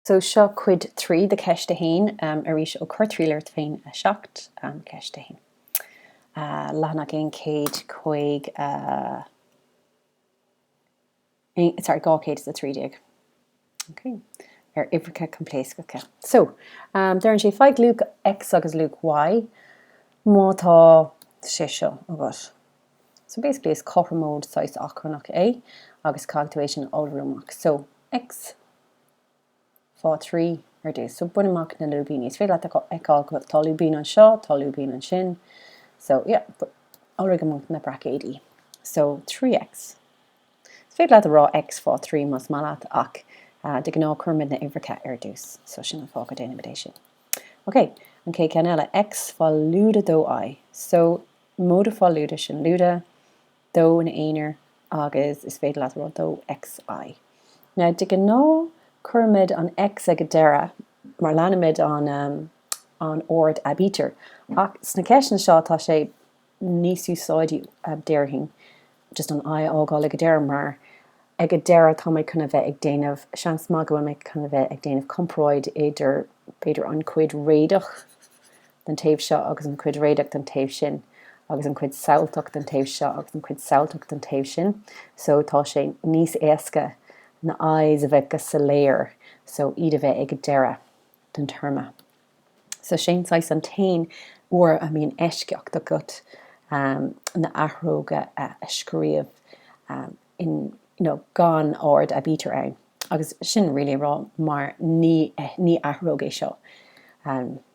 So seo cuid 3 de cheist 1, arís ó Cur triail ort féin 7, ceist 1. leathanach 105, sorry 213. Okay. ar uimhreacha coimpléascacha. So, um, deireann sé faigh luach X agus luach Y má tá sé seo agat. So basically is cothromóid saghas achrannach é agus caithfidh tú é sin a iolrú amach. So X fá 3, ar dtús. So, bain amach na lúibíní. Is féidir leat a fheiceáil go bhfuil, tá lúibín anseo, tá lúibín ansin. So, yeah, iolraigh amach na braicéidí. So, 3X. Is féidir leat a rá X fá 3 más maith leat, ach de ghnáth cuirimid na uimhreacha ar dtús. So, sin an fáth go déanaimid é sin. OK, an chéad ceann eile, X fá lúide 2I. So, móide fá lúide, sin lúide. dó ina aonair agus is féidir leat, bhuel, dó XI. Now de ghnáth cuirimid an X ag an deireadh mar leanaimid an an ord aibítir ach sna ceisteanna seo tá sé níos úsáidí déarfainn just an I a fhágáil ag an deireadh mar ag an deireadh táimid chun a bheith ag déanamh seans maith go bhfuilimid chun a bheith ag déanamh comparáid idir b'fhéidir an chuid réadach den taobh seo agus an chuid réadach den taobh sin agus an chuid samhailteach den taobh seo agus an chuid samhailteach den taobh sin so tá sé níos éasca na I's a bheith go soiléir so iad a bheith ag deireadh den téarma. So sé'n saghas an t-aon uair a mbíonn eisceacht agat ehm na athróga a scríobh ehm in you know gan ord aibítir iad agus sin really a rá mar ní ní athróg é seo ehm.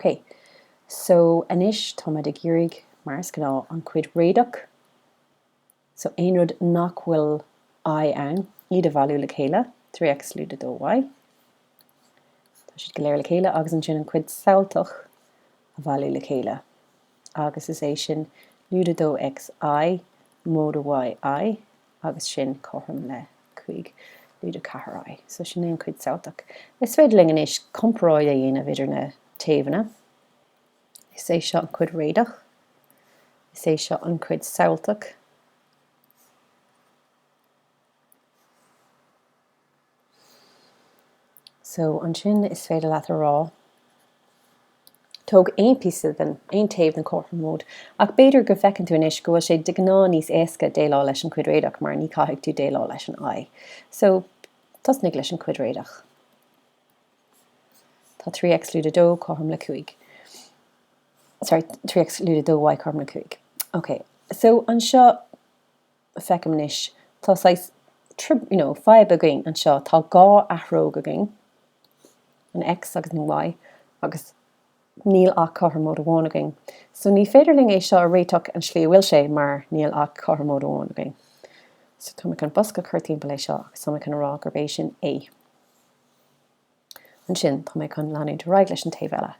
Ok, so anois táimid ag iarraidh, mar is gnáth, an chuid réadach, so aon rud nach bhfuil I ann, iad a bhailiú le chéile, 3X lúide 2Y. Tá siad go léir le chéile agus ansin an chuid samhailteach a bhailiú le chéile agus is é sin lúide 2XI, móide YI, agus sin cothrom le cúig móide ceathair I, so sin é an cuid samhailteach. Is féidir linn anois comparáid a dhéanamh idir na taobhanna. Is é seo an cuid réadach. Is é seo an cuid samhailteach. So, ansin is féidir leat a rá, Tóg aon phíosa den, aon taobh den chothromóid, ach b'fhéidir go bhfeiceann tú anois go bhfuil sé de ghnáth níos éasca déileáil leis an chuid réadach mar ní chaithfidh tú déileáil leis an i. So, tosnaigh leis an chuid réadach. Tá 3X lúide 2 cothrom le 5. Sorry, 3X lúide 2Y cothrom le 5. OK. So, anseo, feicim anois, tá saghas, you know, fadhb againn anseo, tá dhá athróg againn, an X agus an Y, agus níl ach cothromóid amháin againn. So ní féidir linn é seo a réiteach an slí a bhfuil sé mar níl ach cothromóid amháin againn. So tá mé chun bosca a chur timpeall é seo agus tá mé chun a rá gurb é sin A. Ansin, tá mé chun leanúint ar aghaidh leis an taobh eile,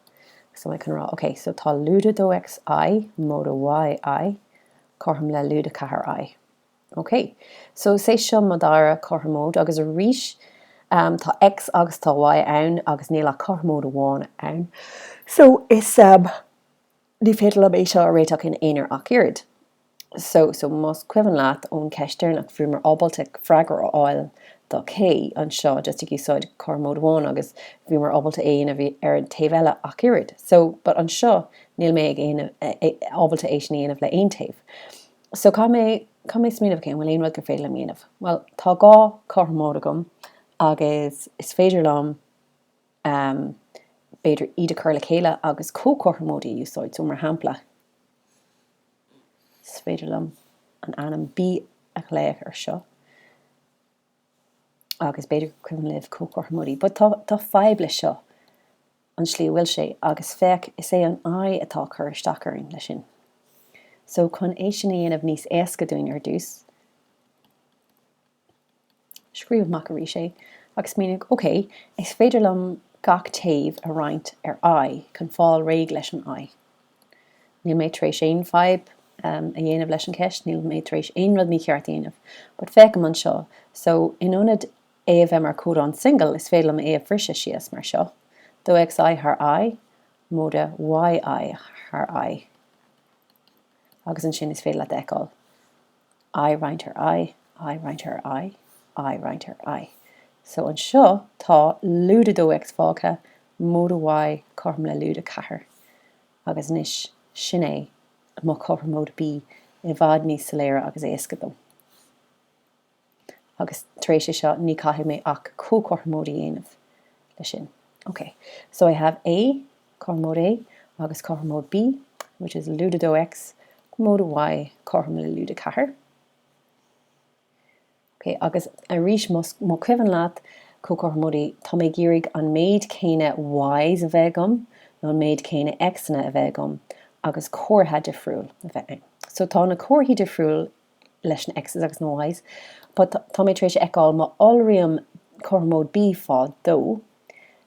agus tá mé chun a rá, OK, so tá lúide 2X I, móide Y I, cothrom le lúide 4 I. OK, so is é seo mo dhara cothromóid, agus arís, tá X agus tá Y ann, agus níl ach cothromóid amháin ann. So is. Ní féidir liom é seo a réiteach ina aonar ach oiread. So, so, más cuimhin leat ón cheist deireanach, bhíomar ábalta freagra a fháil do K anseo just ag úsáid cothromóid amháin agus bhíomar ábalta é a dhéanamh ar an taobh eile ach oiread. So, but anseo níl mé ag dhéanamh, ábalta é sin a dhéanamh le aon taobh. So, caithfidh mé, caithfidh mé smaoineamh, okay, an bhfuil aon rud gur féidir liom a dhéanamh? Bhuel, tá dhá chothromóid agam agus is féidir liom, b'fhéidir iad a chur le chéile agus comhchothromóidí a úsáid. So, mar shampla, is féidir liom an ainm B a ghlaoch ar seo agus b'fhéidir gur cuimhin libh comhchothromóidí but tá fadhb leis seo, an slí a bhfuil sé agus féach, is é an I atá ag cur isteach orainn leis sin. So, chun é sin a dhéanamh níos éasca dúinn ar dtús, Scríobh amach arís é agus míníodh, OK, is féidir liom gach taobh a roinnt ar I chun fáil réidh leis an I. Níl mé tar éis aon fadhb a dhéanamh leis an cheist, níl mé tar éis aon rud mícheart a dhéanamh. But féachaigí anseo. So, in ionad é a bheith mar codán singil, is féidir liom é a bhriseadh síos mar seo, 2X I thar I, móide Y I thar I. Agus ansin is féidir leat a fheiceáil I roinnt ar I, I roinnt ar I, I roinnt ar I. So anseo tá lúide 2X fágtha, móide Y cothrom le lúide 4. Agus anois sin é mo chothromóid B i bhfad níos soiléire agus éasca dom. Agus tar éis é seo ní caithfidh mé ach comhchothromóid a dhéanamh le sin. Okay, so I have A, Cothromóid A agus cothromóid B, which is lúide 2X, móide Y, cothrom le lúide 4. Ok, agus arís más cuimhin leat, comhchothromóidí, tá mé ag iarraidh an méid céanna Ys a bheith agam nó an méid céanna Xanna a bheith agam agus comhartha difriúil a bheith ann. So tá na comharthaí difriúil leis na Xs agus na Ys, but tá mé tar éis a fheiceáil má iolraím cothromóid B faoi dhó,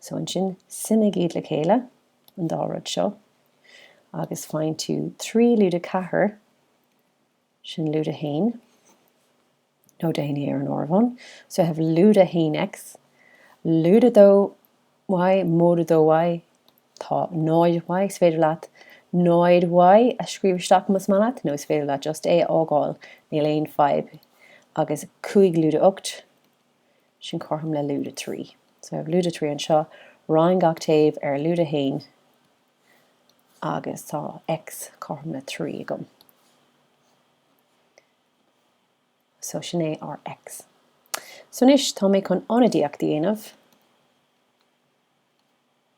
So ansin suimigh iad le chéile, an dá rud seo, agus faigheann tú trí lúide ceathair, sin lúide a haon, nó déan é ar an áireamhán, so you have lúide a haon X, lúide dó Y, móide dó Y, tá náid Y, is féidir leat náid Y a scríobh isteach más maith leat, nó is féidir leat just é a fhágáil, níl aon fadhb, agus cúig lúide a hocht, Sin cothrom le lúide trí. So I have lúide trí anseo, roinn gach taobh ar lúide a haon agus tá X cothrom le trí agam. So sin é ár X. So anois tá mé chun ionadaíocht a dhéanamh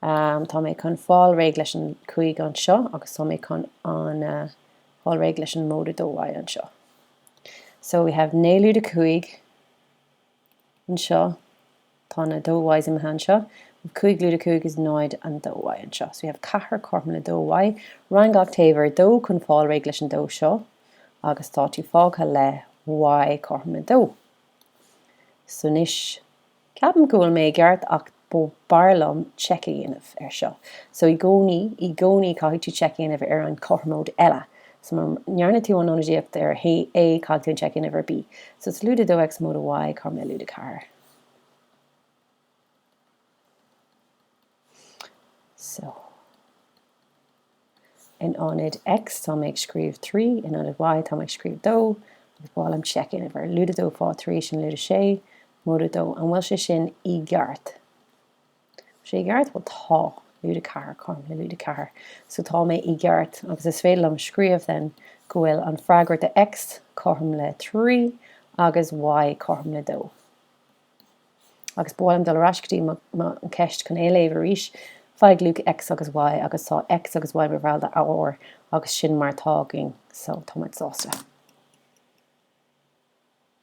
Um, tá mé chun fáil réidh leis an cúig anseo agus tá mé chun an uh, fáil réidh leis an móide dó Y anseo. So we have naoi lúide cúig anseo tá na dó Y imithe anseo. Cúig lúide cúig is náid an dó Y anseo. So we have ceathair cothrom le dó Y. Roinn gach taobh ar dó chun fáil réidh leis an dó seo agus tá tú fágtha le Y cothrom le dó. So anois Ceapaim go bhfuil mé i gceart ach b'fhearr liom check a dhéanamh ar seo. So i gcónaí, i gcónaí caithfidh tú check a dhéanamh ar an chothromóid eile. So má ndearna tú an ionadaíocht ar A caithfidh tú an check a dhéanamh ar B. So is lúide 2 X móide Y, cothrom le lúide 4? So. In ionad X, tá mé ag scríobh trí, in ionad Y, tá mé ag scríobh dó, agus ba mhaith liom check a dhéanamh air, lúide dó fá thrí, sin lúide sé, móide dó. An bhfuil sé sin i gceart? Bhfuil sé i gceart? Bhuel, tá. Lúide ceathair, cothrom le lúide ceathair. So tá mé i gceart, agus is féidir liom scríobh then go bhfuil an freagra do X cothrom le trí agus Y cothrom le dó. Agus ba mhaith liom dul ar ais go dtí mo cheist chun é a léamh arís. Faigh luach X agus Y agus tá X agus Y mar bhall de R agus sin mar atá againn. So, tá muid sásta.